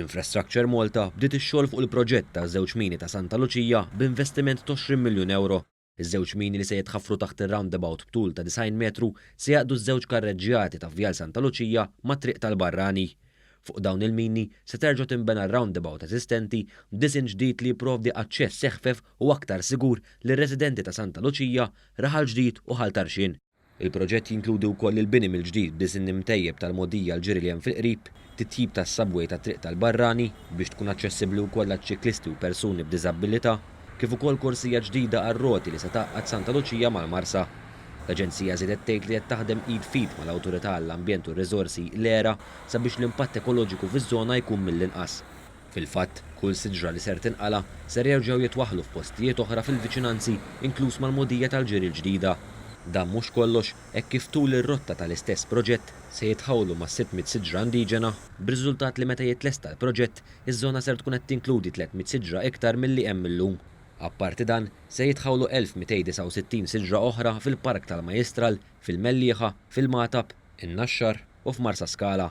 Infrastructure Malta bdiet ix-xogħol fuq il-proġett taż-żewġ mini ta' Santa Luċija b'investiment t'għoxrin miljun ewro. Iż-żewġ mini li se jitħaffru taħt ir-roundabout b'tul ta' 90 metru se jgħaqqdu ż-żewġ karreġġjati ta' Vjal Santa Luċija mat-Triq tal-Barrani. Fuq dawn il-mini se terġa' tinbena r-roundabout eżistenti b'disinn ġdid li jipprovdi aċċess eħfef u aktar sigur lir-residenti ta' Santa Luċija, Raħal Ġdid u Ħal Tarxien. Il-proġett jinkludi wkoll il-bini mill-ġdid b'diżinn imtejjeb tal-mogħdija l-ġiri li hemm fil-qrib, titjib tas-subway tat-Triq tal-Barrani biex tkun aċċessibbli wkoll għaċ-ċiklisti u persuni b'diżabbilità, kif ukoll korsija ġdida għar-roti li se tgħaqqad Santa Luċija mal-Marsa. L-Aġenzija żiedet tgħid li qed taħdem id f'id mal-Awtorità għall-Ambjent u r-Riżorsi, l-ERA, sabiex l-impatt ekoloġiku fiż-żona jkun mill-inqas. Fil-fatt, kull siġra li ser tinqala' ser jerġgħu jitwaħħlu f'postijiet oħra fil-viċinanzi, inkluż mal-mogħdija tal-ġiri l-ġdida. Dan mhux kollox, hekk kif tul ir-rotta tal-istess proġett se jitħawlu ma' sitt mitt siġra indiġena, b'riżultat li meta jitlesta l-proġett, iż-żona ser tkun qed tinkludi tliet mitt siġra iktar milli hemm illum. Apparti dan, se jitħawlu 1,269 siġra oħra fil-Park tal-Majjistral, fil-Mellieħa, fil-Magħtab, in-Naxxar u f'Marsaskala,